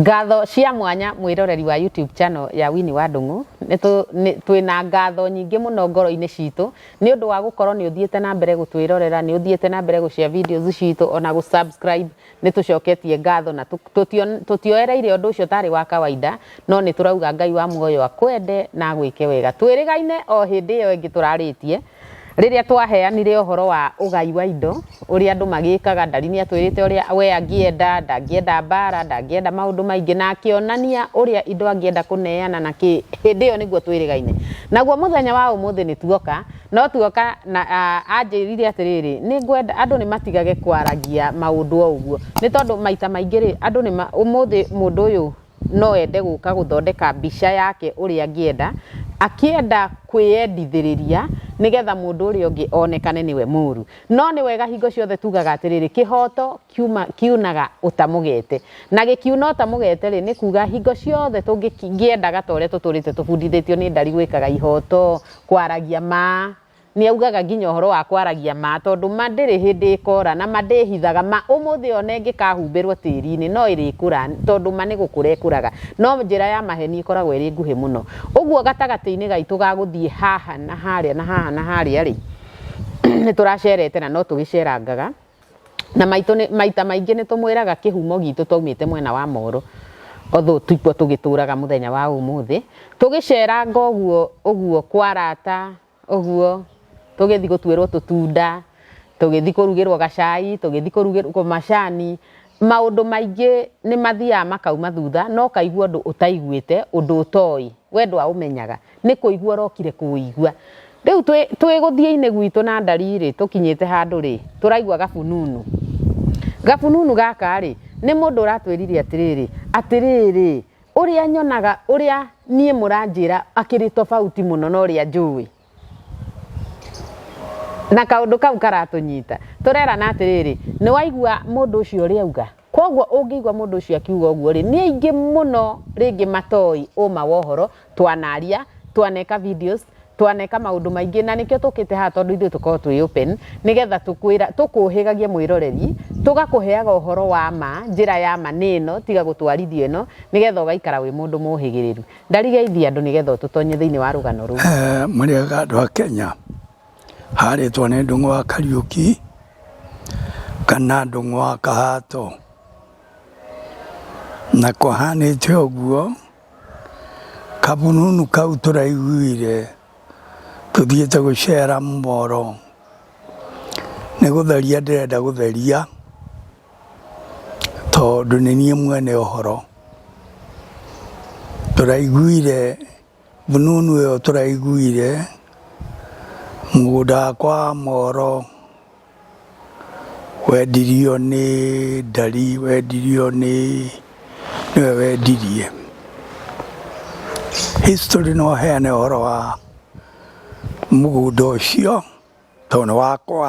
Ngatho cia mwanya mwĩroreri wa YouTube channel ya Winnie wa Ndung'u. Twĩna ngatho nyingĩ mũno ngoro-inĩ citũ nĩ ũndũ wa gũkorwo nĩ ũthiĩte na mbere gũtwĩrorera, nĩ ũthiĩte na mbere gũshare videos citũ ona gũ subscribe. Nĩ tũcoketie ngatho na tũtioereire ũndũ ũcio tarĩ wa kawaida, no nĩ tũrauga Ngai wa muoyo akwende na agwĩke wega. Twĩrĩgaine o hĩndĩ ĩyo ĩngĩ tũrarĩtie. Rĩrĩa twaheanire ũhoro wa ũgai wa indo, ũrĩa andũ magĩkaga, Ndari nĩ atwĩrĩte ũrĩa we angĩenda, ndangĩenda mbaara, ndangĩenda maũndũ maingĩ, na akĩonania ũrĩa indo angĩenda kũneana na kĩ. Hĩndĩ ĩyo nĩguo twĩrĩgaine. Naguo mũthenya wa ũmũthĩ nĩ tuoka, no tuoka na anjĩrire atĩrĩrĩ, nĩ ngwenda andũ nĩ matigage kwaragia maũndũ o ũguo. Nĩ tondũ maita maingĩ-rĩ, andũ nĩ, ũmũthĩ mũndũ ũyũ no ende gũka gũthondeka mbica yake ũrĩa angĩenda, akĩenda kwĩyendithĩrĩria nĩgetha mũndũ ũrĩa ũngĩ onekane nĩwe mũru. No nĩ wega hingo ciothe tugaga atĩrĩrĩ, kĩhoto kiunaga ũtamũgete. Na gĩkiuna ũtamũgete rĩ, nĩ kuga hingo ciothe tũngĩendaga ta ũrĩa tũtũrĩte tũbundithĩtio nĩ ndari gwĩkaga ihoto, kwaragia ma, Nĩ augaga nginya ũhoro wa kwaragia ma, tondũ ma ndĩrĩ hĩndĩ ĩkora, na ma ndĩĩhithaga. Ma, ũmũthĩ o na ĩngĩkahumbĩrũo tĩri-inĩ, no ĩrĩkũra, tondũ ma nĩ gũkũra ĩkũraga. No njĩra ya maheni ĩkoragwo ĩrĩ nguhĩ mũno. Ũguo gatagatĩ-inĩ gaitũ ga gũthiĩ haha na harĩa na haha na harĩa-rĩ, nĩ tũracereete na no tũgĩcerangaga Na maitũ nĩ, maita maingĩ nĩ tũmwĩraga kĩhumo gitũ twaumĩte mwena wa Moro, although tikuo tũgĩtũraga mũthenya wa ũmũthĩ, tũgĩceranga ũguo ũguo kwa arata ũguo, tũgĩthi gũtuĩrwo tũtunda, tũgĩthi kũrugĩrwo gacai, tũgĩthi kũrugĩrwo macani. Maũndũ maingĩ nĩ mathiaga makauma thutha, no ũkaigua ũndũ ũtaiguĩte, ũndũ ũtoĩ. We ndwaũmenyaga. Nĩ kũigua ũrokire kũũigua. Rĩu twĩ, twĩ gũthiĩ-inĩ gwitũ na ndari-rĩ, tũkinyĩte handũ-rĩ, tũraigua gabununu. Gabununu gaka-rĩ, nĩ mũndũ ũratwĩrire atĩrĩrĩ, atĩrĩrĩ, ũrĩa nyonaga, ũrĩa niĩ mũranjĩra akĩrĩ tofauti mũno na ũrĩa njũĩ. Na kaũndũ kau karatũnyita. Tũrerana atĩrĩrĩ, nĩ waigua mũndũ ũcio ũrĩa auga? Kwoguo ũngĩigua mũndũ ũcio akiuga ũguo-rĩ, nĩ aingĩ mũno rĩngĩ matoĩ ũma wa ũhoro, twanaria, twaneka videos, twaneka maũndũ maingĩ, na nĩkĩo tũkĩte haha tondũ ithuĩ tũkoragwo twĩ open, nĩgetha tũkwĩra, tũkũhĩgagie mwĩroreri, tũgakũheaga ũhoro wa ma, njĩra ya ma nĩ ĩno, tiga gũtwarithia ĩno, nĩgetha ũgaikara wĩ mũndũ mũhĩgĩrĩru. Ndarigeithia andũ nĩgetha ũtũtonye thĩinĩ wa rũgano rũu. Eh, mũrĩega andũ a Kenya harĩtwo nĩ ndũng'ũ wa Kariũki kana ndũng'ũ wa Kahato na kũhanĩte ũguo kabununu kau tũraiguire tũthiĩte gũcera moro nĩ gũtheria ndĩrenda gũtheria Tondũ nĩ niĩ mwene ũhoro, tũraiguire fununu ĩyo tũraiguire, mũgũnda wakwa wa Moro wendirio nĩ ndari, wendirio nĩ, nĩwe wendirie. History no ĩheane ũhoro wa mũgũnda ũcio tondũ nĩ wakwa.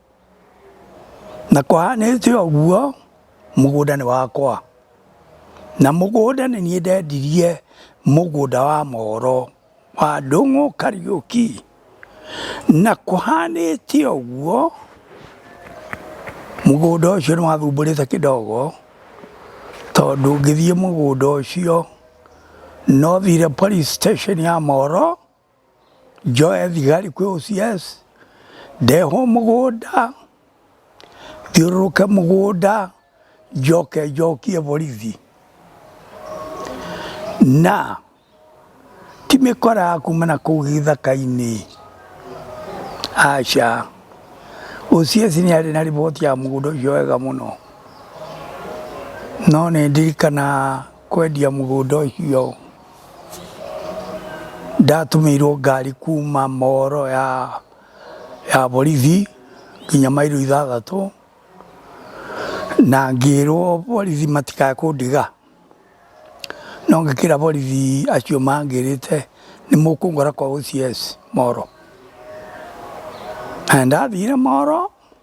na kũhanĩte ũguo mũgũnda nĩ wakwa, na mũgũnda nĩ niĩ ndendirie mũgũnda wa Moro wa Ndũng'ũ Kariũki, na kũhanĩte ũguo mũgũnda ũcio nĩ wathumbũrĩte kĩdogo, tondũ ngĩthiĩ mũgũnda ũcio nothire police station ya Moro. Njoe thigari kwĩ OCS, ndehwo mũgũnda, thiũrũrũke mũgũnda, njoke njokie borithi. Na ti mĩkora ya kuma na kũu gĩthaka-inĩ, aca. OCS nĩ arĩ na riboti ya mũgũnda ũcio wega mũno, no nĩ ndirikanaga. kwendia mũgũnda ũcio ndatũmĩirwo ngari kuma moro ya, ya borithi nginya mairo ithathatũ na ngĩrwo borithi matikae kũndiga no ngĩkĩra borithi acio mangĩrĩte nĩ mũkũngora kwa OCS moro na ndathire moro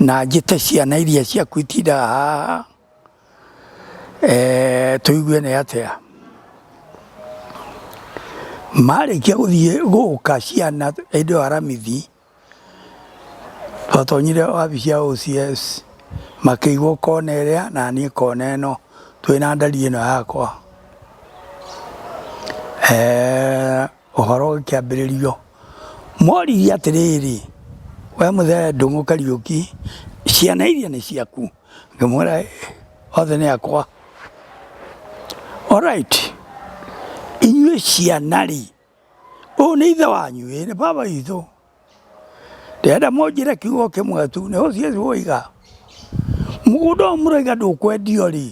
na njĩte ciana iria ciaku itindaga haha eh, tũigue nĩ atĩa marĩkia gũthiĩ gũka ciana hĩndĩ ĩyo aramithi twatonyire wabici ya OCS makĩigwo kona ĩrĩa na niĩ kona ĩno twĩ na ndari ĩno yakwa eh, Ũhoro ũkĩambĩrĩrio, moririe atĩrĩrĩ, we mũthee Ndung'u Kariũki, ciana iria nĩ ciaku? Ngĩmwĩra othe nĩ akwa. Alright, inyuĩ ciana rĩ, ũyũ nĩ ithe wanyu? Ĩĩ nĩ baba witũ. Ndĩrenda mũnjĩre kiugo kĩmwe tu, nĩ OCS woiga. Mũgũnda ũyũ mũroiga ndũkwendio rĩ,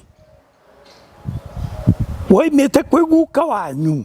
woimĩte kwĩ guka wanyu?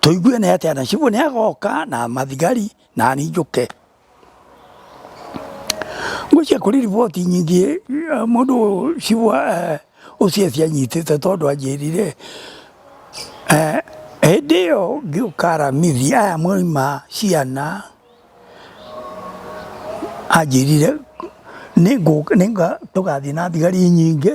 Tũigue nĩ atĩa na cibũ nĩ agoka na mathigari na ningũke. Ngũcia kũrĩ riboti nyingĩ mũndũ cibũ ũcio cianyitĩte tondũ anjĩrire hĩndĩ ĩyo ngĩũka aramithi aya mwauma ciana anjĩrire tũgathiĩ na thigari nyingĩ.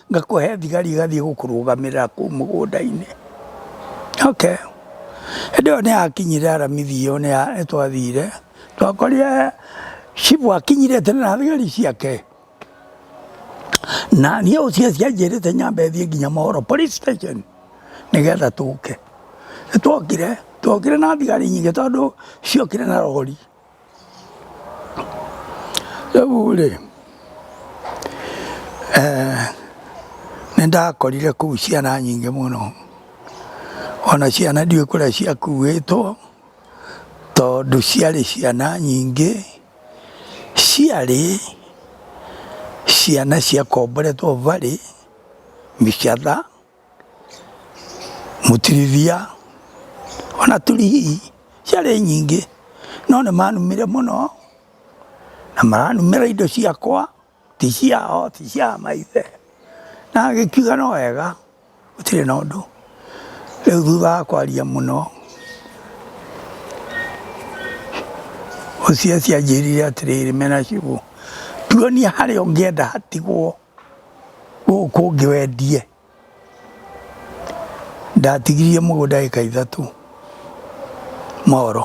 ngakũhe thigari igathiĩ gũkũrũgamĩrĩra kũu mũgũnda-inĩ okay. Hĩndĩ ĩyo nĩ akinyire aramithi ĩyo nĩ twathire twakorire cibu akinyire tene na thigari ciake na niĩ ũcio cianjĩrĩte nyambe thiĩ nginya Mohoro police station nĩgetha tũke. Nĩ twokire twokire na thigari nyingĩ tondũ ciokire na rori. Rĩu rĩ, eh, nĩ ndakorire kũu ciana nyingĩ mũno, ona ciana ndiũĩ kũrĩa ciakuĩtwo, tondũ ciarĩ ciana nyingĩ, ciarĩ ciana ciakomboretwo barĩ mĩcatha. Mũtirithia ona tũrigii ciarĩ nyingĩ no nĩ manumire mũno na maranumĩra indo ciakwa ti ciao ti cia maithe. Na ngĩkiuga no wega gũtirĩ na ũndũ. Rĩu thutha wa kwaria mũno Hosea anjĩrire atĩrĩrĩ, Menahshu tuonie harĩa ũngĩenda hatigwo. Gũkũ kũngĩ wendie. Ndatigirie mũgũnda ĩka ithatũ Moro.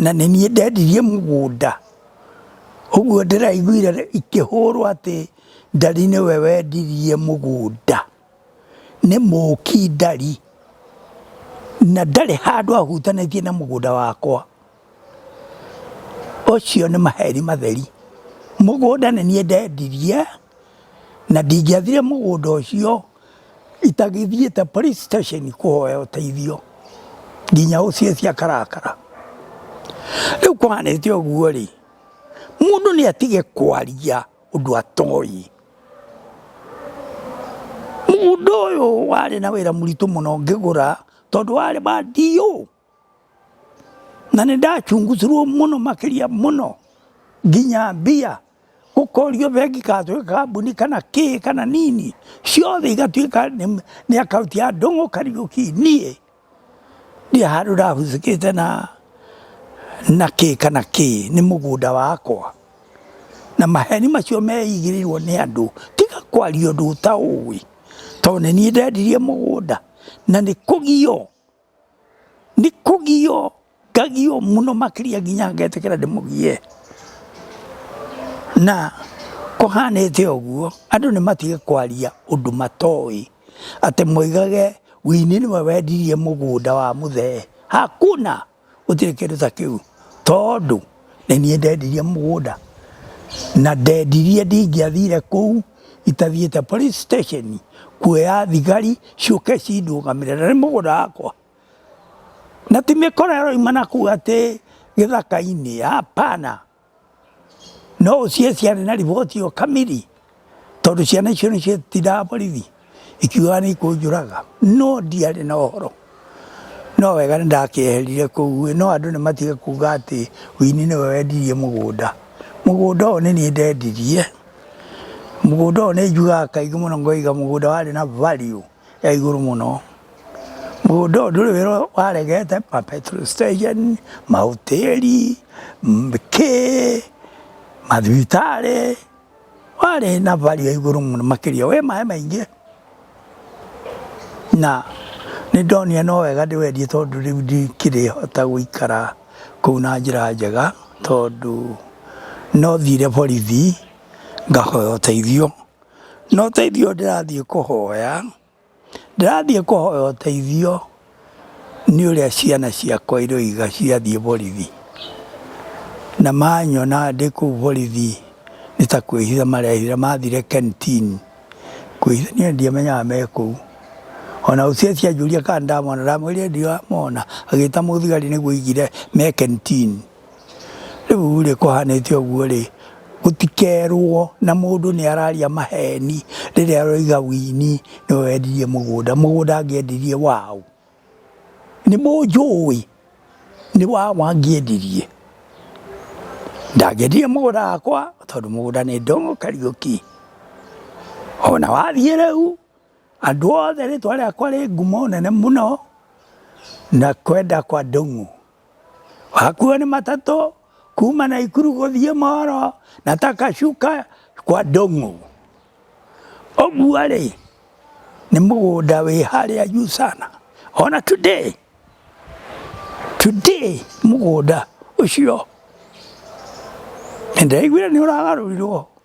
Na nĩ niĩ ndendirie mũgũnda. Ũguo ndĩraiguire ikĩhũrwo atĩ Ndari nĩwe wendirie mũgũnda. nĩ mũũki ndari, na ndarĩ handũ ahutanĩtie na mũgũnda wakwa, ũcio nĩ maheni matheri. Mũgũnda nĩ niĩ ndendirie, na ndingĩathire mũgũnda ũcio itagĩthiĩte police station kũhoya ũteithio, nginya OCS akarakara. Rĩu kũhanĩte ũguo-rĩ, mũndũ nĩ atige kwaria. ũndũ atoĩ mũgũnda ũyũ warĩ na wĩra mũritũ mũno ngĩgũra tondũ warĩ wa ndiũ na nĩ ndacungusirwo mũno makĩria mũno nginya mbia gũkorio bengi katwĩka kambuni kana kĩ kana nini ciothe igatuĩka nĩ akaunti ya ndũng'ũ kariũki niĩ Ndirĩ handũ ndahusĩkĩte na na kĩ kana kĩ, nĩ mũgũnda wakwa. Na maheni macio meigĩrĩirwo nĩ andũ, tiga kwaria ũndũ ũtaũĩ. To nĩ niĩ ndendirie mũgũnda, na nĩ kũgio, nĩ kũgio. Ngagio mũno makĩria nginya ngetĩkĩra ndĩmũgie. Na kũhanĩte ũguo, andũ nĩ matige kwaria ũndũ matoĩ, atĩ moigage Winnie nĩwe wendirie mũgũnda wa mũthee. Hakuna! Gũtirĩ kĩndũ ta kĩu, tondũ nĩ niĩ ndendirie mũgũnda, na ndendirie ndingĩathire kũu itathiĩte police station kuoya thigari ciũke cindũgamĩrĩre. Na nĩ mũgũnda wakwa. Na ti mĩkora ĩroima na kuu atĩ gĩthaka-inĩ, hapana. No ũcihe ciana na riboti ĩyo kamiri, tondũ ciana icio nĩcio itindaga borithi ikiugaga nĩ ikũnjũraga. No ndiarĩ na ũhoro. No wega nĩ ndakĩeherire kũu, no andũ nĩ matige kuuga atĩ Wini nĩwe wendirie mũgũnda. Mũgũnda ũyũ nĩ niĩ ndendirie, mũgũnda ũyũ nĩ njugaga kaingĩ mũno ngoiga mũgũnda warĩ na value. ya igũrũ mũno mũgũnda ũyũ ndũrĩ wĩra waregete ma petrol station mahoteli m- kĩ mathibitarĩ warĩ na value ya igũrũ mũno makĩria wĩ maĩ maingĩ na nĩ ndonire no wega ndĩwendie tondũ rĩu ndikĩrĩ hota gũikara kũu na njĩra njega tondũ no thire borithi ngahoya ũteithio No ũteithio ndĩrathiĩ kũhoya, ndĩrathiĩ kũhoya ũteithio nĩ ũrĩa ciana ciakwa iroiga ciathiĩ borithi. Na manyona ndĩ kũu borithi nĩ ta kwĩhitha marehitha mathire kenitini kwĩhitha niĩ ndiamenyaga me kũu. Ona ũcio ũcio anjũria kana ndamona, ndamwĩrire ndiramona, agĩta mũthigari nĩguo aigire me kenitini. Rĩu rĩ kũhanĩte ũguo rĩ, gũtikerwo na mũndũ nĩ araria maheni rĩrĩa aroiga Winnie nĩwe wendirie mũgũnda. Mũgũnda angĩendirie waũ? Nĩ mũnjũĩ? Nĩ waũ angĩendirie? Ndangĩendirie mũgũnda wakwa tondũ mũgũnda nĩ Ndung'u Kariuki. Ona wathiĩ rĩu andũ othe rĩtwa rĩakwa rĩ ngumo nene mũno na kwenda kwa Ndung'u. Hakuhĩ nĩ matatũ kuma na ikuru gũthiĩ moro na takacuka kwa ndũng'ũ. Ũguo rĩ nĩ mũgũnda wĩ harĩa juu sana ona today today mũgũnda ũcio nĩ ndĩraiguire nĩ ũragarũrirwo.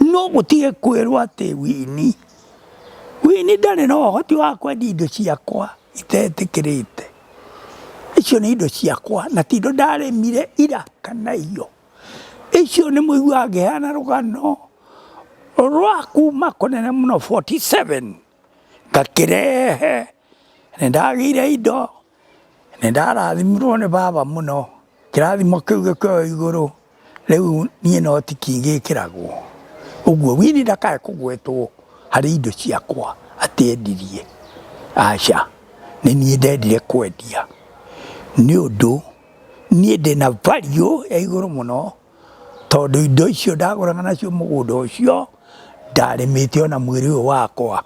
No mũtige kwĩrwo atĩ Winnie, Winnie ndarĩ na ũhoti wa kwendia indo ciakwa itetĩkĩrĩte. Icio nĩ indo ciakwa na ti indo ndarĩmire ira kana iyo. Icio nĩ mũiguaga ngĩheana rũgano rwa kuma kũnene mũno 47 ngakĩrehe Nĩ ndagĩire indo, nĩ ndarathimirwo nĩ baba mũno, kĩrathimo kĩu gĩkĩoywo igũrũ, rĩu niĩ no ti kĩngĩkĩragwo. Ũguo Winnie ndakae kũgwetwo harĩ indo ciakwa atĩ endirie, aca, nĩ niĩ ndendire kwendia, nĩ ũndũ niĩ ndĩna value ya igũrũ mũno, tondũ indo icio ndagũraga nacio mũgũnda ũcio, ndarĩmĩte ona mwĩrĩ ũyũ wakwa.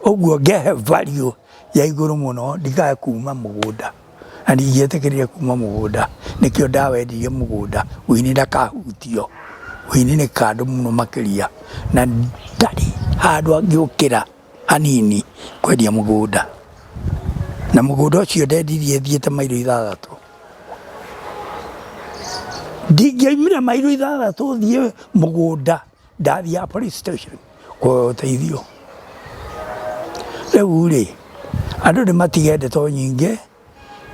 Ũguo ngehe value ya igũrũ mũno ndikae kuuma mũgũnda na ndingĩetĩkĩrire kuuma mũgũnda nĩkĩo ndawendirie mũgũnda ũini ndakahutio ũini nĩ kandũ mũno makĩria na ndarĩ handũ angĩũkĩra hanini kwendia mũgũnda na mũgũnda ũcio ndendirie thiĩte mairo ithathatũ ndingĩaumire mairo ithathatũ thiĩ mũgũnda ndathiaga police station kuoya ũteithio rĩu rĩ andũ nĩ matige ndeto nyingĩ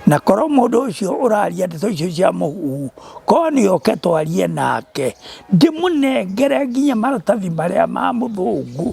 na korwo mũndũ ũcio ũraria ndeto icio cia mũhuhu korwo nĩ oke twarie nake ndĩmũnengere nginya maratathi marĩa ma mũthũngũ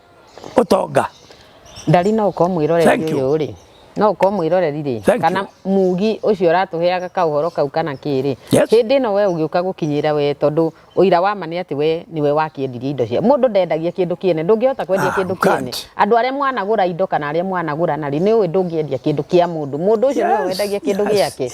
ũtonga ndari no ũkorwo mwĩroreri Thank you. ũyũ rĩ no ũkorwo mwĩroreri rĩ Thank kana mugi ũcio ũratũheaga kaũhoro kau kana kĩrĩ Yes. hĩndĩ ĩno we ũgĩũka gũkinyĩra we tondũ ũira wa ma nĩ atĩ we nĩwe wakĩendirie indo cia mũndũ ndendagia kĩndũ kĩene ndũngĩhota kwendia Ah, kĩndũ kĩene can't. andũ arĩa mwanagũra indo kana arĩa mwanagũra narĩ nĩ ũĩ ndũngĩendia kĩndũ kĩa mũndũ mũndũ ũcio nĩwe Yes, wendagia kĩndũ yes, gĩake yes.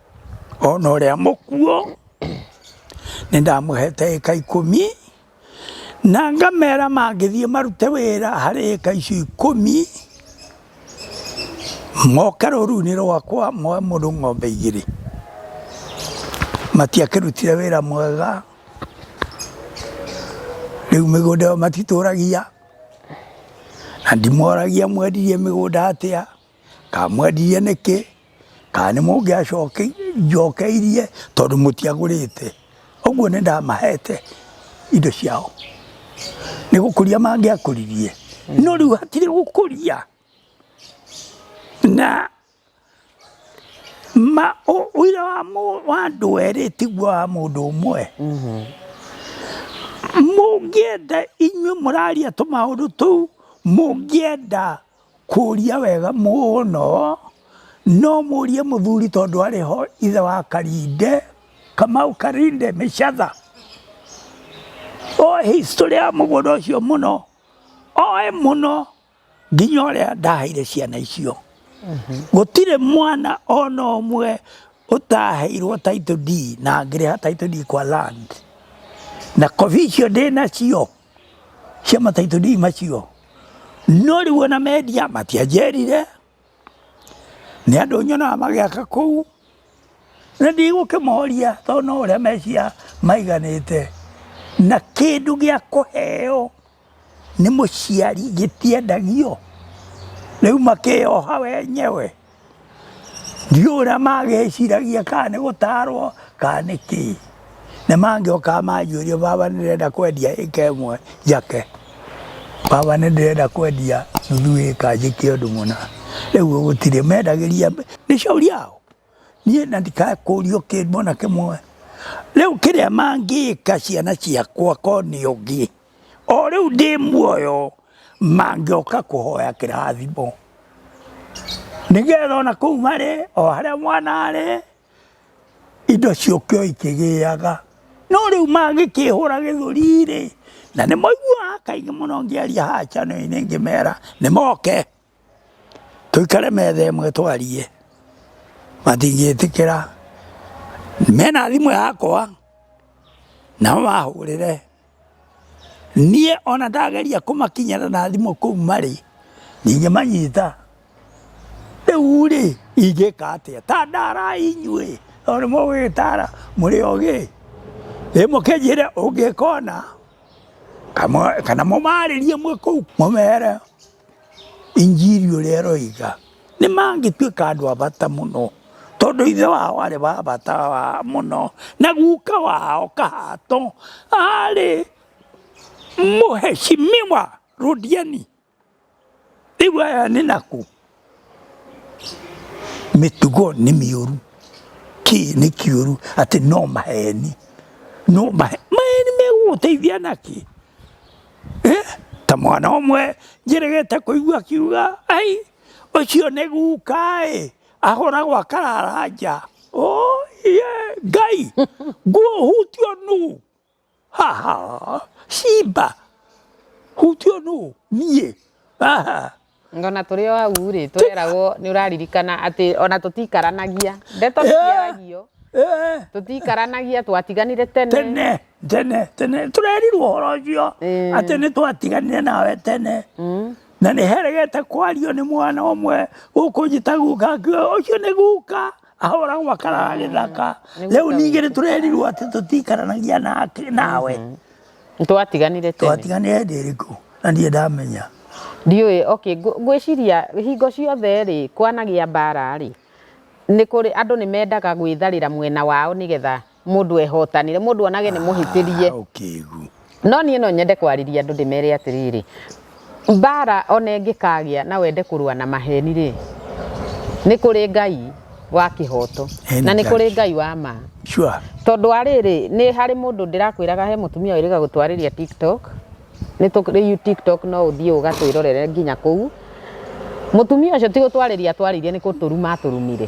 ona ũrĩa mũkuũ nĩ ndamũhete ĩka ikũmi na ngamera mangĩthiĩ marute wĩra harĩ ĩka icio ikũmi moke rũru-inĩ rwakwa moe mũndũ ng'ombe igĩrĩ matiakĩrutire wĩra mwega rĩu mĩgũnda ĩyo matitũragia na ndimoragia mwendirie mĩgũnda atĩa. kamwendirie nĩkĩ kana nĩ mũngĩacokeirie tondũ mũtiagũrĩte ũguo nĩ ndamahete indo ciao nĩ gũkũria mangĩakũririe no rĩu hatirĩ gũkũria na ma ũira wa andũ erĩ tiguo wa mũndũ ũmwe mm-hmm. mũngĩenda inyuĩ mũraria tũmaũndũ tũu mũngĩenda Kũria wega mũno. No mũrie mũthuri tondũ arĩ ho ithe wa Karinde, Kamau Karinde Mĩcatha. Oĩ history ya mũgũnda ũcio mũno, oĩ mũno nginya ũrĩa ndaheire ciana icio. Gũtirĩ mwana ona ũmwe ũtaheirwo title deed na ngĩrĩha title deed kwa land. Na copy icio ndĩnacio. cia mataitũri macio no rĩu ona mendia matianjerire nĩ andũ nyonaga magĩaka kũu na ndigũkĩmoria tondũ no ũrĩa mecia maiganĩte na kĩndũ gĩa kũheo nĩ mũciari gĩtiendagio rĩu makĩyoha wenyewe Ndiũĩ ũrĩa magĩciragia kana nĩ gũtarwo kana nĩ kĩĩ. Na mangĩoka manjũrie baba nĩ ndĩrenda kwendia ĩka ĩmwe njake. Baba nĩ ndĩrenda kwendia nuthu ĩka njĩke ũndũ mũna. Rĩu gũtirĩ mendagĩria nĩ shauri yao. Niĩ na ndikae kũrio kĩndũ ona kĩmwe. Rĩu kĩrĩa mangĩka ciana ciakwa korwo nĩ ũngĩ. o rĩu ndĩ muoyo mangĩoka kũhoya kĩrathimo nĩgetha ona kũu marĩ o harĩa mwana arĩ indo ciũkio ikĩgĩaga no rĩu mangĩkĩhũra gĩthũri-rĩ na nĩmoiguaga kaingĩ mũno ngĩaria haha chanel-inĩ ngĩmera nĩmoke. tũikare metha ĩmwe twarie, matingĩtĩkĩra, mena thimũ yakwa nao mahũrĩre, niĩ ona ndageria kũmakinyĩra na thimũ kũu marĩ ndingĩmanyita, rĩu rĩ ingĩka atĩa? Ta ndarai inyuĩ tondũ nĩ mũĩ gũgĩtara mũrĩ ogĩ, ĩ mũkĩnjĩre ũngĩka ũna kana mũmarĩrie mwĩ kũu mũmere. Injiri ũrĩa ĩroiga, nĩ mangĩtuĩka andũ a bata mũno, tondũ ithe wao arĩ wa bata mũno, na guka wao Kahato arĩ mũheshimiwa Rũdiani. Rĩu aya nĩ nakũ? Mĩtugo nĩ mĩũru, kĩĩ nĩ kĩũru? Atĩ no maheni, no maheni. Maheni megũgũteithia nakĩ? Eh, ta mwana omwe njeregete koigwa kiuga ai ucio ni guka i ahuragwo akarara nja oh, yeah. ngai nguo hutio nu haha simba hutio nu niĩ haha Ngona tũrĩ o hau rĩ tũreragwo nĩ ũraririkana atĩ ona tũtikaranagia ndeto nĩciaragio Eh, tũtikaranagia twatiganire tene tene tene tene tũrerirwo ũhoro ũcio Eh. atĩ nĩ twatiganire nawe tene Mm. na nĩ heregete kwario nĩ mwana ũmwe gũkũ njĩtaguka ũcio nĩ guka ahora gwakaraga gĩthaka rĩu ningĩ nĩ tũrerirwo atĩ tũtiikaranagia nake- nawe Nĩ twatiganire tene twatiganire hĩndĩ ĩrĩkũ na ndiĩ ndamenya ndiũĩ okay ngũ- ngwĩciria hingo ciothe rĩ kwanagĩa mbara rĩ nĩ kũrĩ andũ nĩ mendaga gwĩtharĩra mwena wao nĩgetha mũndũ ehotanĩre mũndũ onage nĩ mũhĩtĩrie Ah, ũkĩgu no niĩ no nyende kwarĩria andũ ndĩmere atĩrĩrĩ mbara ona ĩngĩkagĩa na wende kũrũa na maheni rĩ nĩ kũrĩ ngai wa kĩhoto Ĩĩ, nĩ na nĩ ngai. kũrĩ ngai wa ma sure tondũ arĩrĩ nĩ harĩ mũndũ ndĩrakwĩraga he mũtumia wĩrĩga gũtwarĩria tiktok nĩ tũrĩu tiktok no ũthiĩ ũgatwĩrorere nginya kũu mũtumia ũcio ti gũtwarĩria atwarĩirie nĩ kũtũruma atũrumire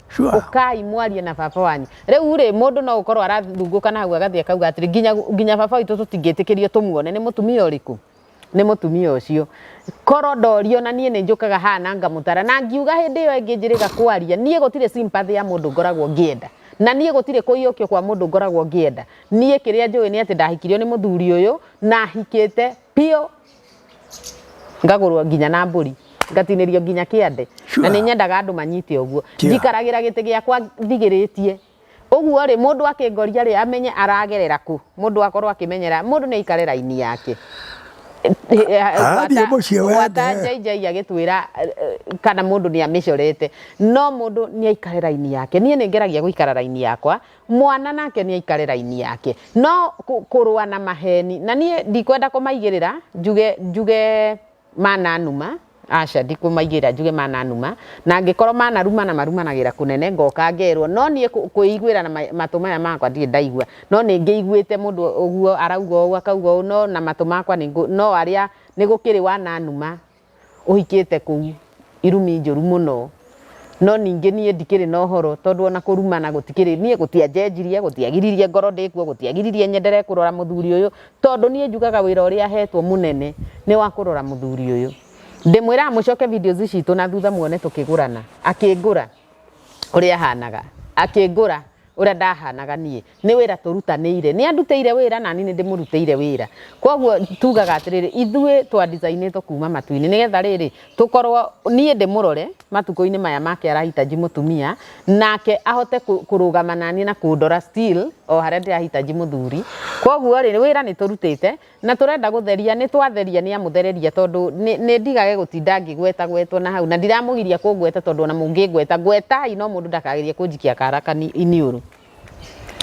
Sure. ukai mwarie na baba wanyu riu ri mundu no ukorwo arathungũka na hau agathi akauga atiri nginya nginya baba witũ tũtingĩtĩkĩrio tũmuone nĩ mũtumia ũrĩkũ nĩ mũtumia ũcio korwo ndorio na niĩ nĩ njũkaga haha na ngamũtara na ngiuga hĩndĩ ĩyo ĩngĩ njĩrĩga kwaria niĩ gũtirĩ sympathy ya mũndũ ngoragwo ngĩenda na niĩ gũtirĩ kũiyũkio kwa mũndũ ngoragwo ngĩenda niĩ kĩrĩa njũĩ nĩ atĩ ndahikirio nĩ mũthuri ũyũ na hikĩte biũ ngagũrwo nginya na mbũri ngatinĩrio nginya kĩande na nĩ nyendaga andũ manyite ũguo njikaragĩra gĩtĩ gĩakwa ndigĩrĩtie ũguo rĩ mũndũ akĩngoria rĩ amenye aragerera kũ mũndũ akorwo akĩmenyera mũndũ nĩ aikare raini yake gwata njainjai agĩtwĩra kana mũndũ nĩ amĩcorete no mũndũ nĩ aikare raini yake niĩ nĩ ngeragia gũikara raini yakwa Mwana nake nĩ aikare raini yake. No kũrũa na maheni, na niĩ ndikwenda kũmaigĩrĩra njuge, njuge mananuma, aca ndikũmaigĩrĩra njuge mananuma, na angĩkorwo manarumana marumanagĩra kũnene ngoka ngerwo, no niĩ kwĩiguĩra na matũ maya makwa ndirĩ ndaigua, no nĩ ngĩiguĩte mũndũ ũguo arauga ũũ akauga ũũ no na matũ makwa nĩ no arĩa nĩ gũkĩrĩ wananuma ũhikĩte kũu, irumi njũru mũno, no ningĩ niĩ ndikĩrĩ na ũhoro tondũ ona kũrumana gũtikĩrĩ, niĩ gũtianjenjirie, gũtiagiririe ngorwo ndĩ kuo, gũtiagiririe nyendere kũrora mũthuri ũyũ, tondũ niĩ njugaga wĩra ũrĩa hetwo mũnene nĩ wa kũrora mũthuri ũyũ. Ndĩmwĩraga mũcoke videos citũ na thutha muone tũkĩgũrana, akĩngũra ũrĩa hanaga, akĩngũra ũrĩa ndahanaga niĩ, nĩ wĩra tũrutanĩire. Nĩ andutĩire wĩra na niĩ nĩ ndĩmũrutĩire wĩra. Kwoguo tugaga atĩrĩrĩ, ithuĩ twa design ĩtwo kuuma matu-inĩ nĩgetha rĩrĩ, tũkorwo niĩ ndĩmũrore matukũ-inĩ maya make arahitaji mũtumia, nake ahote kũrũgama na niĩ na kũndora still o harĩa ndĩrahitaji mũthuri. Kwoguo rĩ, wĩra nĩ tũrutĩte na tũrenda gũtheria, nĩ twatheria nĩ amũthereria tondũ nĩ ndigage gũtinda ngĩgwetagwetwo na hau. Na ndiramũgiria kũngweta tondũ ona mũngĩngweta, ngwetai no mũndũ ndakagerie kũnjikia kara iniũrũ.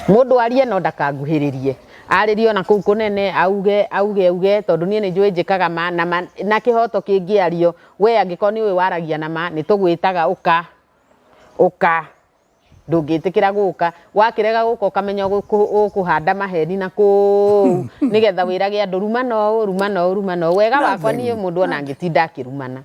Mũndũ arie no ndakanguhĩrĩrie. Arĩrie ona kũu kũnene, auge, auge, auge, tondũ niĩ nĩ njũĩ njĩkaga ma, na ma, na kĩhoto kĩngĩario. Wee angĩkorwo nĩ ũĩ waragia na ma, nĩ tũgwĩtaga ũka, ũka. Ndũngĩtĩkĩra gũka. Wakĩrega gũka ũkamenya ũgũ, ũkũhanda maheni na kũu, nĩgetha wĩrage andũ, rumana ũũ, rumana ũũ, rumana ũũ. Wega wakwa niĩ mũndũ ona angĩtinda akĩrumana.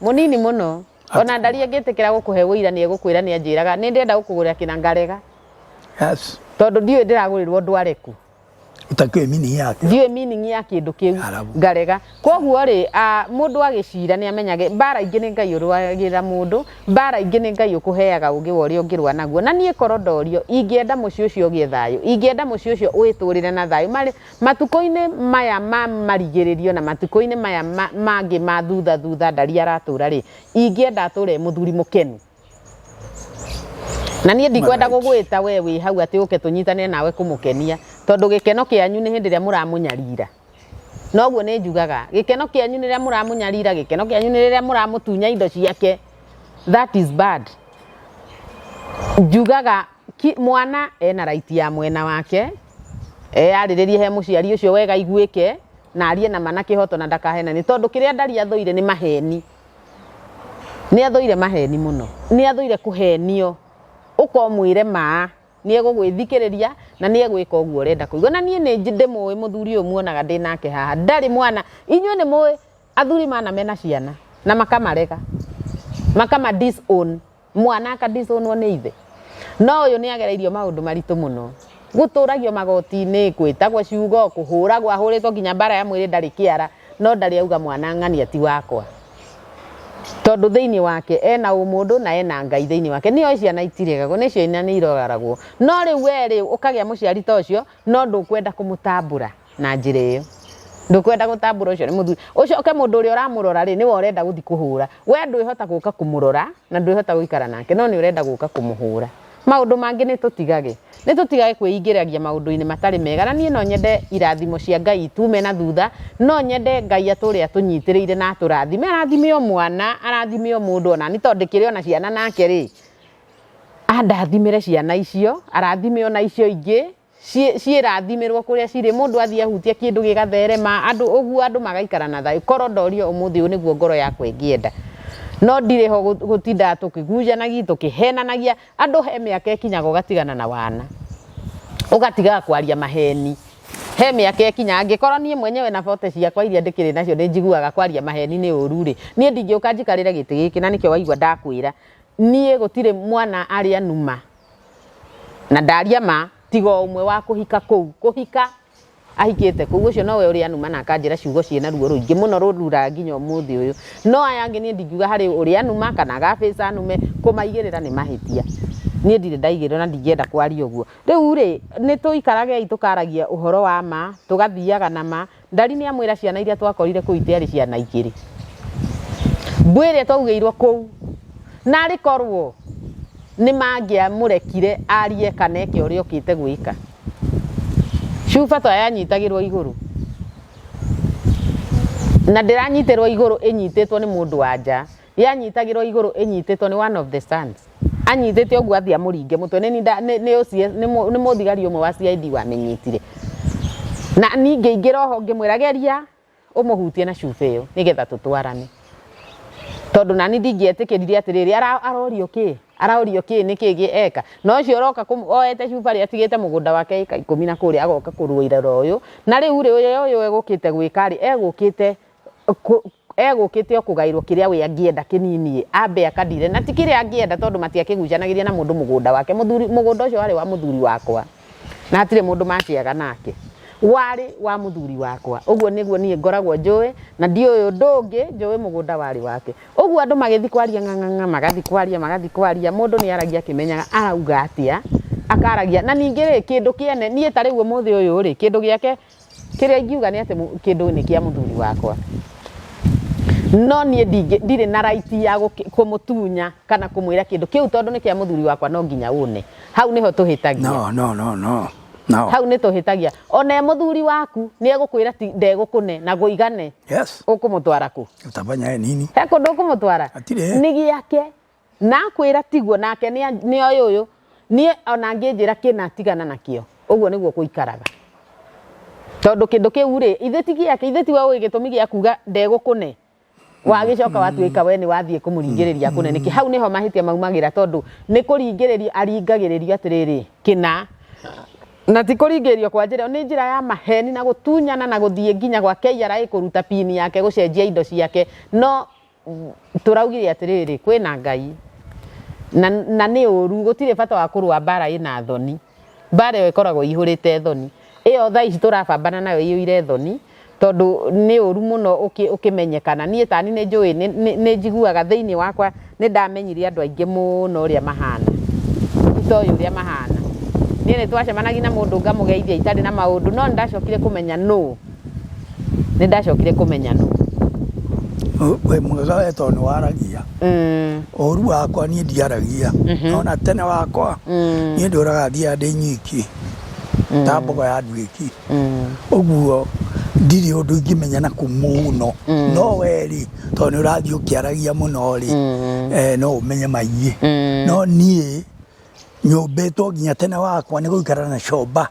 Mũnini mũno. O na ndari angĩtĩkĩra gũkũhe ũira nĩ egũkwĩra nĩ anjĩraga nĩ ndĩenda gũkũgũrĩra kĩna ngarega. Yes. Tondũ ndiũĩ ndĩragũrĩrwo ndware kũ. Ũtakĩũĩ meaning yakĩo. Ndiũĩ meaning ya kĩndũ kĩu. Harabu. Ngarega. Kwoguo rĩ, ah, mũndũ agĩcira nĩ amenyage mbara ingĩ nĩ Ngai ũrũagĩra mũndũ, mbara ingĩ nĩ Ngai ũkũheaga ũũgĩ wa ũrĩa ũngĩrũa naguo. Na niĩ korwo ndorio, ingĩenda mũciĩ ũcio ũgĩe thayũ. Ingĩenda mũciĩ ũcio ũĩtũũrĩre na thayũ. Marĩ, Matukũ-inĩ maya ma marigĩrĩrio na matukũ-inĩ maya mangĩ ma thutha thutha ndari aratũra rĩ, ingĩenda atũre e mũthuri mũkenu. Na niĩ ndikwenda gũgwĩta we wĩ hau atĩ ũke tũnyitanĩre nawe kũmũkenia, tondũ gĩkeno kĩanyu nĩ hĩndĩ ĩrĩa mũramũnyarira. Na ũguo nĩ njugaga, gĩkeno kĩanyu nĩ rĩrĩa mũramũnyarira, gĩkeno kĩanyu nĩ rĩrĩa mũramũtunya indo ciake. That is bad. Njugaga mwana ena right ya mwena wake, Eyarĩrĩrie he mũciari ũcio wega aiguĩke na arie na ma na kĩhoto na ndakahenanie tondũ kĩrĩa Ndari athũire nĩ maheni. Nĩ athũire maheni mũno. Nĩ athũire kũhenio. Ũka ũmwĩre ma, nĩ egũgwĩthikĩrĩria na nĩ egwĩka ũguo ũrenda kũigua. Na niĩ nĩ ndĩmũĩ mũthuri ũyũ muonaga ndĩ nake haha. Ndarĩ mwana. Inyuĩ nĩ mũĩ athuri mana mena ciana na makamarega, makama disown. Mwana akadisonwo nĩ ithe. No ũyũ nĩ agereirio maũndũ maritũ mũno. Gũtũragio magoti-inĩ, kwĩtagwo ciugo, kũhũragwo ahũrĩtwo nginya mbara ya mwĩrĩ ndarĩ kĩara, no ndarĩ auga mwana ng'ania ti wakwa. Tondũ thĩinĩ wake ena ũmũndũ na ena Ngai thĩinĩ wake. Nĩ oĩ ciana itiregagwo, nĩcio ina nĩ iroraragwo. No rĩu we rĩ, ũkagĩa mũciari ta ũcio no ndũkwenda kũmũtambũra. na njira iyo ndukwenda gutambura ucio ni muthuri ucio ke mundu uria uramurora ri niwe urenda guthi kuhura we ndwihota guka kumurora na ndwihota guikara nake no ni urenda guka kumuhura maundu mangi ni tutigage ni tutigage kwiyingiragia maundu-ini matari mega na nie no nyende irathimo cia ngai itume na thutha no nyende ngai ature atunyitirire na aturathime arathime o mwana arathime o mundu ona ni tondu ndikiri ona ciana nake ri andathimire ciana icio arathime ona icio ingi ciĩ- ciĩrathimirwo kũrĩa cirĩ mũndũ athiĩ ahutia kĩndũ gĩgatherema andũ ũguo andũ magaikara na thayũ korwo ndorio ũmũthĩ ũyũ nĩguo ngoro yakwa ĩngĩenda no ndirĩ ho gũ- gũtindaga tũkĩgunjanagi tũkĩhenanagia andũ he mĩaka ĩkinyaga ũgatigana na wana ũgatigaga kwaria maheni he mĩaka ĩkinya angĩkorwo niĩ mwenyewe na bote ciakwa iria ndĩkĩrĩ nacio nĩ njiguaga kwaria maheni nĩ ũru rĩ niĩ ndingĩũka njikarĩre gĩtĩ gĩkĩ na nĩkĩo waigua ndakwĩra niĩ gũtirĩ mwana arĩa numa Na ndaria ma, tiga o ũmwe wa kũhika kũu. Kũhika, ahikĩte kũu. Ũcio nowe ũrĩa anuma na akanjĩra ciugo ciĩ na ruo rũingĩ mũno rũnduuraga nginya ũmũthĩ ũyũ. No aya angĩ niĩ ndingiuga harĩ ũrĩa anuma kana agabica anume, kũmaigĩrĩra nĩ mahĩtia. Niĩ ndirĩ ndaigĩrĩrwo na ndingĩenda kwaria ũguo. Rĩu-rĩ, nĩtũikaragei tũkaragia ũhoro wa ma, tũgathiaga na ma, Ndari nĩ amwĩra ciana iria twakorire kũu itiarĩ ciana igĩrĩ. Mbwĩre twaugĩirwo kũu. Na arĩ korwo nĩ mangĩamũrekire arie kana eke ũrĩa okĩte gwĩka. Cuba to yanyitagĩrwo igũrũ. Na ndĩranyitĩrwo igũrũ ĩnyitĩtwo nĩ mũndũ wa nja. yanyitagĩrwo igũrũ ĩnyitĩtwo nĩ one of the sons anyitĩte ũguo athiĩ amũringe mũtwe nĩ nda- nĩ- nĩ OCS nĩ mũ- nĩ mũthigari ũmwe wa CID wamĩnyitire na ningĩ ingĩra oho ngĩmwĩra geria ũmũhutie na cuba ĩyo nĩgetha tũtwarane tondũ nani ndingĩetĩkĩrire atĩrĩrĩ ara- arorio kĩ arorio kĩ nĩ kĩ gĩ- eka na ũcio ũroka kũm- oete cuba rĩ atigĩte mũgũnda wake ĩka ikũmi na kũrĩa agoka kũrũĩra ũyũ na rĩu rĩ ũyũ ũyũ egũkĩte gwĩka rĩ egũkĩte egũkĩte o kũgaĩrwo kĩrĩa we angĩenda kĩnini ĩ ambe akandire na ti kĩrĩa angĩenda tondũ matiakĩgucanagĩria na mũndũ mũgũnda wake mũthuri mũgũnda ũcio warĩ wa mũthuri wakwa na hatirĩ mũndũ makĩaga nake warĩ wa mũthuri wakwa ũguo nĩguo niĩ ngoragwo njũĩ na ndiũĩ ũndũ ũngĩ njũĩ mũgũnda warĩ wake ũguo andũ magĩthi kwaria ng'ang'ang'a magathi kwaria magathi kwaria mũndũ nĩ aragia akĩmenyaga arauga atĩa akaragia na ningĩ rĩ kĩndũ kĩene niĩ ta rĩu ũmũthĩ ũyũ rĩ kĩndũ gĩake Kĩrĩa ingiuga nĩ atĩ kĩndũ nĩ kĩa mũthuri wakwa, no niĩ ndirĩ na right ya kũmũtunya kana kũmwĩra kĩndũ kĩu tondũ nĩ kĩa mũthuri wakwa no nginya ũne. Hau nĩho tũhĩtagia. No, no, no, no, no. Hau nĩ tũhĩtagia. Ona e mũthuri waku nĩ egũkwĩra ti ndegũkũne na gũigane. Yes. Ũkũmũtwara kũ? Utafanya yeye nini? He kũndũ ũkũmũtwara? Hatirĩ. Nĩ gĩake Nakwĩra tiguo, nake nĩoĩ ũyũ, niĩ ona angĩnjĩra kĩna tigana nakĩo, ũguo nĩguo gũikaraga. Tondũ kĩndũ kĩu-rĩ, ithe ti gĩake, ithe tiwe ũĩ gĩtũmi gĩa kuga ndegũkũne, wagĩcoka watuĩka we nĩwathiĩ kũmũringĩrĩria akũne nĩkĩ? Hau nĩho mahĩtia maumagĩra tondũ nĩ kũringĩrĩrio aringagĩrĩrio atĩrĩrĩ, kĩna, na ti kũringĩrĩrio kwa njĩra ĩyo, nĩ njĩra ya maheni na gũtunyana na gũthiĩ nginya gwa KRA kũruta pin yake gũcenjia indo ciake, no tũraugire atĩrĩrĩ kwĩna Ngai na, na nĩ ũru, gũtirĩ bata wa kũrũa mbara ĩna thoni, mbara ĩyo ĩkoragwo ihũrĩte thoni ĩyo thaa ici tũrabambana nayo iyũire thoni tondũ nĩ ũru mũno ũkĩmenyekana niĩ tani nĩ njũĩ nĩ njiguaga thĩinĩ wakwa nĩ ndamenyire andũ aingĩ mũno ũrĩa mahana itoĩ ũrĩa mahana niĩ nĩ twacemanagia na mũndũ ngamũgeithia itarĩ na maũndũ no nĩ ndacokire kũmenya nũ nĩ ndacokire kũmenya nũ wĩ mwega we tondũ nĩ waragia Mm, ũru wakwa niĩ ndiaragia Mhm. ona tene wakwa mm, niĩ ndũraga thiaga ndĩ nyiki ta mbogo ya nduĩki mm, ũguo ndirĩ ũndũ ingĩmenya na kũmũno Mm. no weri tondũ nĩ ũrathiĩ ũkĩaragia mũno rĩ mm, eh, no ũmenye maingĩ mm. no niĩ nyũmbĩtwo nginya tene wakwa nĩ gũikara na comba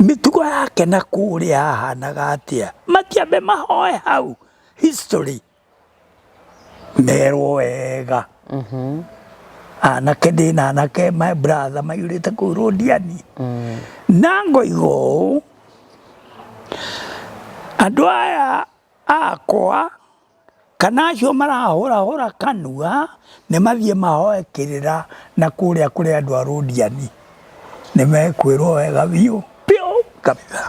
Mĩtugo yake na kũrĩa hahanaga atĩa? Makĩambe mahoe hau history merwo wega mhm. anake ndĩ na anake my brother maihũrĩte kũu rũndiani mm. na ngoiga ũũ andũ aya akwa Kana acio marahũrahũra kanua nĩ mathiĩ mahoe kĩrĩra na kũrĩa kũrĩ andũ a Rũdiani, nĩ mekwĩrwo wega biũ biũ kabitha,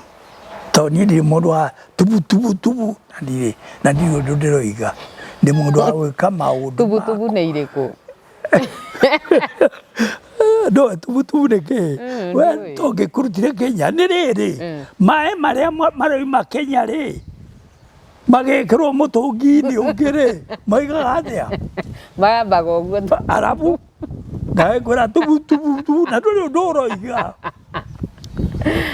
to niĩ ndirĩ mũndũ wa tubu tubu tubu na ndirĩ na ndirĩ ũndũ ndĩroiga, ndĩ mũndũ wa gwĩka maũndũ tubu tubu nĩ irĩkũ? no tubu tubu nĩ kĩ mm, we tũngĩkũrutire Kenya nĩ rĩrĩ mm. maĩ marĩa maroima Kenya rĩ magĩkĩrwo mũtũngi-inĩ ũngĩ rĩ maigaga atĩa mambaga ũguo arabu nawe ngwĩra tubu tubu tubu na ndũrĩ ũndũ ũroiga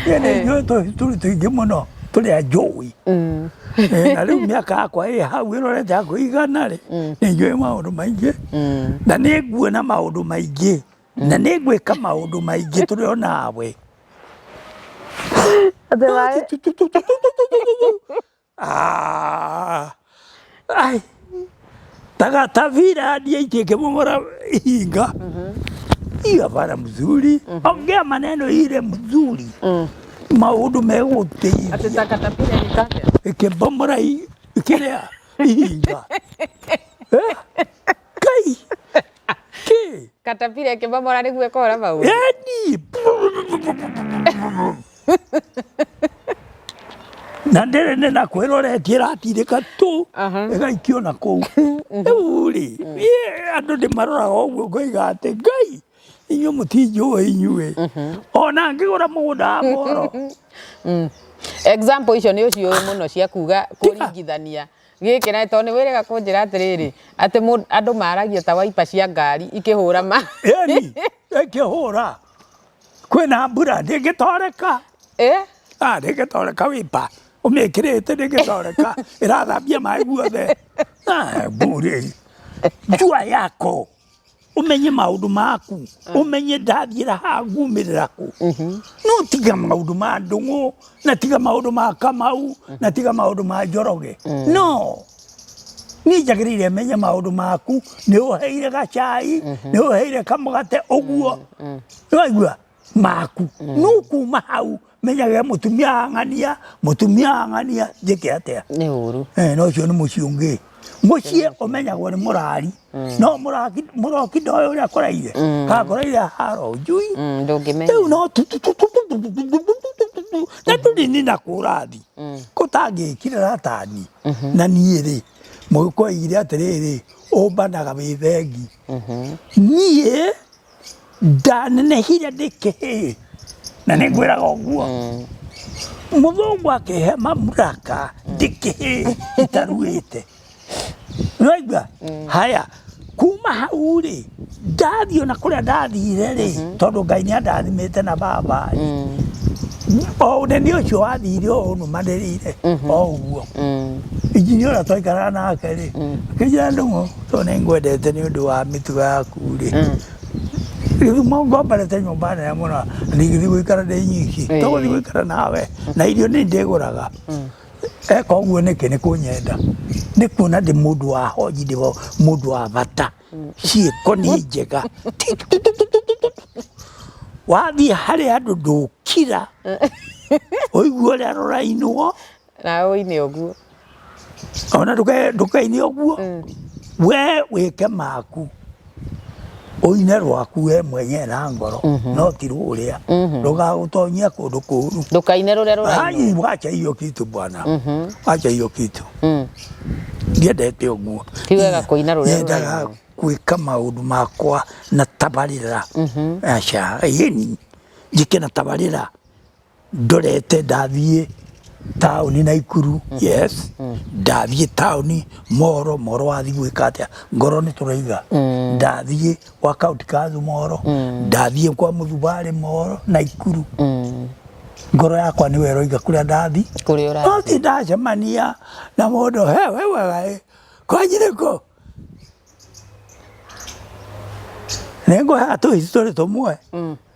niĩ nĩ ithuĩ tũ- tũrĩ tũingĩ mũno tũrĩ a njũĩ Mm, Eh, na rĩu mĩaka yakwa ĩ hau ĩrorete yakwa igana rĩ nĩ njũĩ maũndũ maingĩ mm, na nĩ nguona maũndũ maingĩ na nĩ ngwĩka maũndũ maingĩ tũrĩ o nawe Atĩ waĩ. Ah. Ai. Taga tavira ndiye ikikimomora ihinga. Iya bara mzuri. Ongea maneno ile mzuri. Maundu Atĩ megũteithia ta katapira nĩ kake. ikibomora i- kĩrĩa ihinga. Eh? kai ki katapira ĩkĩmomora nĩguo ĩkora mau yani na ndĩrĩ nĩ na kwĩroretie ĩratirĩka tũ Aha. ĩgaikio na kũu rĩu rĩ niĩ andũ ndĩmaroraga ũguo ngoiga atĩ ngai inyuĩ mũtinjũĩ inyuĩ ona ngĩgũra mũgũnda wa moro example icio nĩ ũciũĩ mũno cia kuga kũringithania Gĩkĩ naĩ tondũ nĩ wĩrĩga kũnjĩra atĩrĩrĩ atĩ andũ maragia ta waipa cia ngari ikĩhũra ma. Ĩni ĩkĩhũra kwĩna mbura ndĩngĩtoreka. Ĩ? Ah, ndĩngĩtoreka wĩpa ũmĩkĩrĩte ndĩngĩtoreka ĩrathambia maĩ guothe. Ah, mburi njua yako. umenye maundu maku mm. umenye ndathira ha ngumirira ku mm-hmm. no tiga maundu ma ndungu na tiga maundu ma kamau mm-hmm. na tiga maundu ma njoroge mm. no ni njagirire menye maundu maku ni uheire gacai mm-hmm. ni uheire kamugate uguo ni waigua maku mm. no kuma hau menyaga mutumia ang'ania mutumia ang'ania njĩke atĩa nĩ ũru eh, no ũcio nĩ mũciĩ ũngĩ mũciĩ ũmenyagwo nĩ mũrari mm. no mũrokinda ũyũ ũrĩa kũraire mm. kakoraire haro njui rĩu no na tũrini na kũrathi kũtangĩkire ratani na niĩ rĩ mũgĩkoigire atĩrĩrĩ ũmbanaga wĩ thengi niĩ ndanenehire ndä kä hä na nä ngwä raga å guo må thångå akä he mamuraka ndä kä hä itaruä te Naigua? Haya. Kuma hau rĩ, ndathiĩ ona kũrĩa ndathire rĩ, mhm. tondũ Ngai nĩ andathimĩte na baba rĩ. Mm. O ũnene ũcio wathire o ũnũmanĩrĩire mhm. o ũguo. Mm. Injinia ũrĩa twaikaraga nake rĩ, mm. akĩnjĩra ndũng'ũ. To nĩ ngwendete nĩ ũndũ wa mĩtugo yaku rĩ mm. gĩthumo ngombarĩte nyũmba nene mũno ndigithiĩ gũikara ndĩ nyiki to gũthiĩ gũikara nawe mm. na irio nĩ ndĩgũraga mm. eka ũguo nĩkĩ nĩ kũnyenda nĩ kuona ndĩ mũndũ wa honji ndĩ mũndũ wa bata ciĩko nĩ njega wathiĩ harĩa andũ ndũkira ũigua ũrĩa rũrainwo Nawe ũine ũguo. Ona ndũke- ndũkaine ũguo Mm. we wĩke maku ũine rwaku we mwenyewe na ngoro no ti rũrĩa ndũgagũtonyia kũndũ kũũru Ndũkaine rũrĩa rũrainwo. Ai, wacha hiyo kitu bwana wacha hiyo kitu Mm. ndiendete ũguo Ti wega kũina rũrĩa Nyendaga rũrainwo. gwĩka maũndũ makwa na tabarĩra aca yeni njĩke na tabarĩra ndorete ndathiĩ taũni na ikuru mm. yes mm. ndathiĩ taũni moro moro wathiĩ gwĩka atĩa ngoro nĩ tũraiga mm. ndathiĩ gwa kaunti kathu moro ndathiĩ kwa mũthubarĩ moro na ikuru ngoro yakwa nĩ wero iga kũrĩa ndathi no ti ndacemania na mũndũ he we wega ĩ kwanjirĩko nĩ ngũhe atũ history tũmwe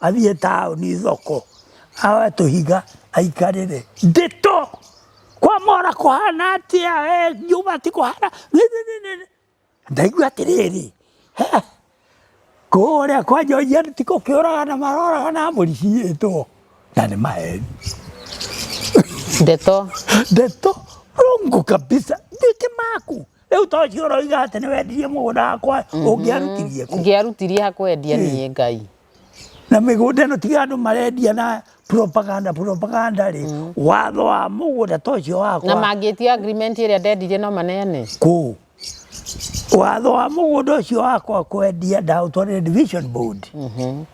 Athiĩ taũni thoko, awe tũhiga aikarĩre. Ndĩto! Kwa mora kũhana atĩa? Eh, Juma ti kũhana. Ndaigua atĩrĩrĩ, kũrĩa kwa Joian ti kũkĩũraga na maroraga na mbũri ciĩtwo. Na nĩ maheni. Ndeto. Ndeto. Rongo kabisa. Ndĩkĩ maku. Rĩu to ũcio ũroiga atĩ nĩ wendirie mũgũnda wakwa mhm. ũngĩarutirie kũ? Ngĩarutirie hakwendia niĩ Ngai. Na mĩgũnda ĩno tiga andũ marendia na propaganda propaganda rĩ mm. watho wa mũgũnda to ũcio wakwa. Na mangĩtia agreement ĩrĩa ndendirie no maneane? Kũ? Watho wa mũgũnda ũcio wakwa kwendia ndaũtwarĩre division board. Mhm.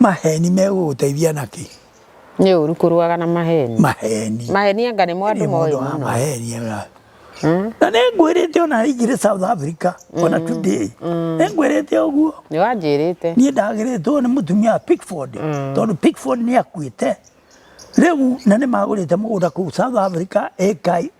Maheni megũgũteithia na kĩ? Nĩ ũru kũrũaga na maheni. Maheni. Maheni anga nĩmo andũ Nĩ moĩ mũndũ wa mũno. maheni ega. Mm. Na nĩ ngwĩrĩte ona aingĩre South Africa ona today. Nĩ ngwĩrĩte ũguo. Nĩ wanjĩrĩte. Niĩ ndagĩrĩtwo nĩ mũtumia wa Pickford tondũ Pickford nĩ akuĩte. Rĩu na nĩ magũrĩte mũgũnda kũu South Africa ĩka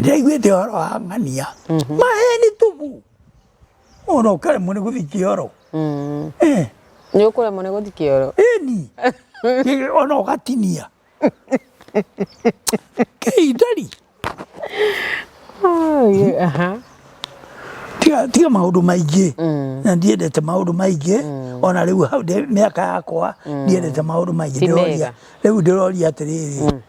ndaiguĩte ũhoro wa ng'ania maheni tubu ona ũkaremwo nĩ gũthiĩ kĩoro Eh, nĩ ũkũremwo nĩ gũthiĩ kĩoro ĩni Ĩ, ona ũgatinia kĩindari Ai, aha. tiga tiga maũndũ maingĩ na ndiendete maũndũ maingĩ ona rĩu hau ndĩ- mĩaka yakwa ndiendete maũndũ maingĩ Ti ndĩroria mega. rĩu ndĩroria atĩrĩrĩ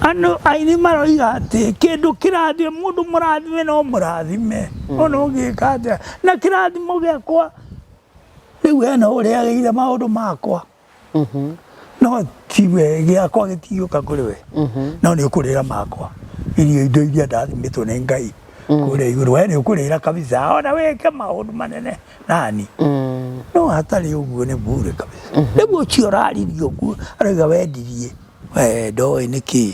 Andũ aini maroiga atĩ kĩndũ kĩrathime mũndũ mũrathime no mũrathime mm. ona ũngĩka atĩa na kĩrathimo gĩakwa rĩu hena ũrĩa agĩire maũndũ makwa mm-hmm. no tiwe gĩakwa gĩtigĩũka kũrĩ we mm-hmm. no nĩ ũkũrĩra makwa irio indo iria ndathimĩtwo nĩ ngai mm. kũrĩa igũrũ we nĩ ũkũrĩra kabisa ona wĩke maũndũ manene nani no hatarĩ ũguo nĩ bure kabisa rĩu ũcio ũraririe ũguo arauga wendirie we ndoĩ nĩ kĩĩ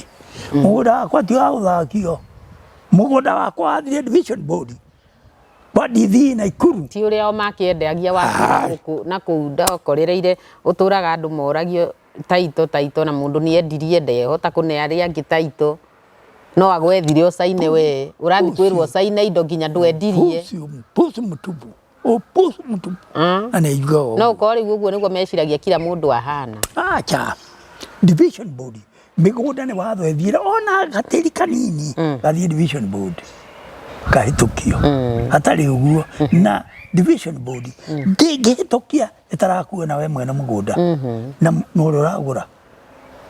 mũgũnda wakwa ti wa gũthakio mũgũnda wakwa wathire division board kwa ndithi na ikuru ti ũrĩa o makĩendagia wakĩra Ah. gũkũ na kũu ndokorereire ũtũraga andũ moragio Taitũ taitũ na mũndũ nĩ endirie ndehota kũne arĩa angĩ taitũ no agwethire ũcaine we ũrathiĩ kwĩrwo ũcaine indo nginya ndwendirie Upuzi, upuzi mtupu, upuzi mtupu. Ah. Anaijua wao. no ũkorwo rĩu ũguo nĩguo meciragia kila mũndũ ahana acha division board mĩgũnda nĩ watho ethire ona gatĩri kanini gathiĩ division board kahĩtũkio hatarĩ ũguo na division board ndĩngĩhĩtũkia ĩtarakuona we mwene mũgũnda mhm. na ũrĩa ũragũra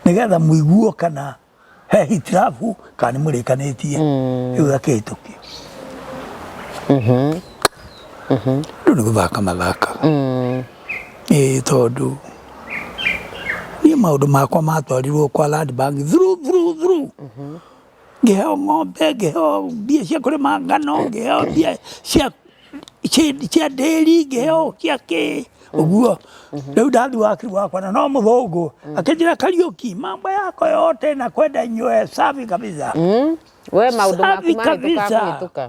nĩgetha mũiguo kana he hitirabu kana nĩ mũrĩkanĩtie mm. rĩu gakĩhĩtũkio mhm. mhm. rĩu nĩ gũthaka mathaka mm. ĩĩ tondũ niĩ maũndũ makwa matwarirwo kwa land bank through through through ngĩheo ng'ombe, ngĩheo mbia cia kũrĩma ngano, ngĩheo mbia cia cia ndĩri, ngĩheo cia kĩ, ũguo. Rĩu ndathi wakiri wakwa na no mũthũngũ, akĩnjĩra Kariũki, mambo yako yote nakwenda inywe safi kabisa. Mm. We maundu maku Safi mari kabisa. tukakũhĩtũka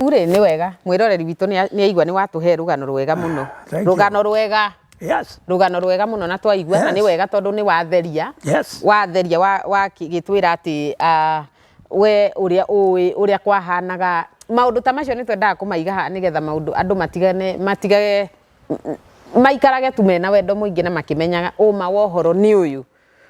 Rĩu rĩ nĩ wega mwĩroreri witũ nĩ aigua nĩ watũhe rũgano rwega mũno Thank you. rũgano rwega Yes. rũgano rwega mũno na twaigua na Yes. nĩ wega tondũ nĩ watheria Yes. watheria wa- wakĩgĩtwĩra atĩ ah, we ũrĩa ũĩ ũrĩa kwahanaga maũndũ ta macio nĩ twendaga kũmaiga haha nĩgetha maũndũ andũ matigane matigage m- m- maikarage tu mena wendo mũingĩ na makĩmenyaga ũma wa ũhoro nĩ ũyũ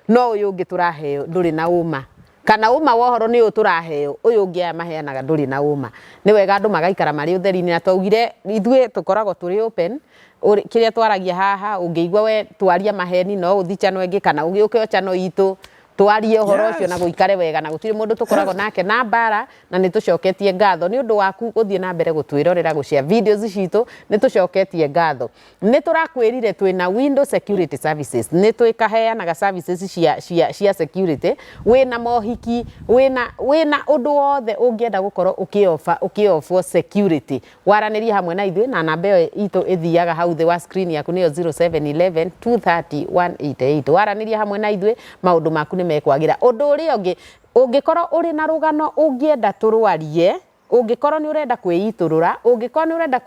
No ũyũ ũngĩ tũraheo ndũrĩ na ũma. Kana ũma wa ũhoro nĩ ũyũ tũraheo, ũyũ ũngĩ aya maheanaga ndũrĩ na ũma. Nĩ wega andũ magaikara marĩ ũtheri-inĩ. Na twaugire ithuĩ tũkoragwo tũrĩ open, kĩrĩa twaragia haha ũngĩigua we twaria maheni no ũthi channel ĩngĩ kana ũgĩũke o channel itũ twarie ũhoro ũcio na gũikare wega na gũtirĩ mũndũ tũkoragwo nake na mbara na nĩ tũcoketie ngatho nĩ ũndũ waku gũthiĩ na mbere gũtwĩrorera, gũ share videos citũ, nĩ tũcoketie ngatho. Nĩtũrakwĩrire twĩ na Window Security Services, nĩtwĩkaheanaga services cia, cia, cia security, wĩ na mohiki, wĩ na, wĩ na ũndũ wothe ũngĩenda gũkorwo ũkĩ offer, ũkĩ offer security, waranĩrie hamwe na ithuĩ na namba ĩyo itũ ĩthiaga hau thĩ wa screen yaku nĩyo 0711230188. Waranĩria hamwe na ithuĩ, maũndũ maku nĩmekwagĩra. Ũndũ ũrĩa ũngĩ, ũngĩkorwo ũrĩ na rũgano ũngĩenda tũrwarie, Ũngĩkorwo nĩ ũrenda kwĩitũrũra, ũngĩkorwo nĩ ũrenda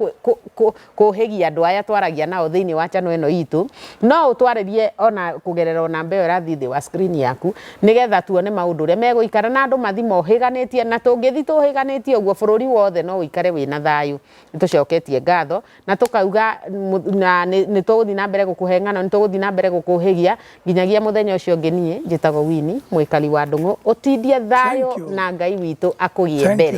kũhĩgia andũ aya twaragia nao thĩinĩ wa channel ĩno itũ, no ũtwarĩrie ona kũgerera o namba ĩyo ĩrathiĩ thĩ wa screen yaku, nĩgetha tuone maũndũ ũrĩa megũikara na andũ mathiĩ mohĩganĩtie, na tũngĩthiĩ tũhĩganĩtie ũguo bũrũri wothe no ũikare wĩna thayũ. Nĩ tũcoketie ngatho Na tũkauga, Na nĩtũgũthiĩ na mbere gũkũhe ng'ano, nĩtũgũthiĩ na mbere gũkũũhĩgia, nginyagia mũthenya ũcio ũngĩ niĩ njĩtagwo Winnie, mũikari wa Ndung'u. Ũtindie thayũ na Ngai witũ akũgĩe mbere.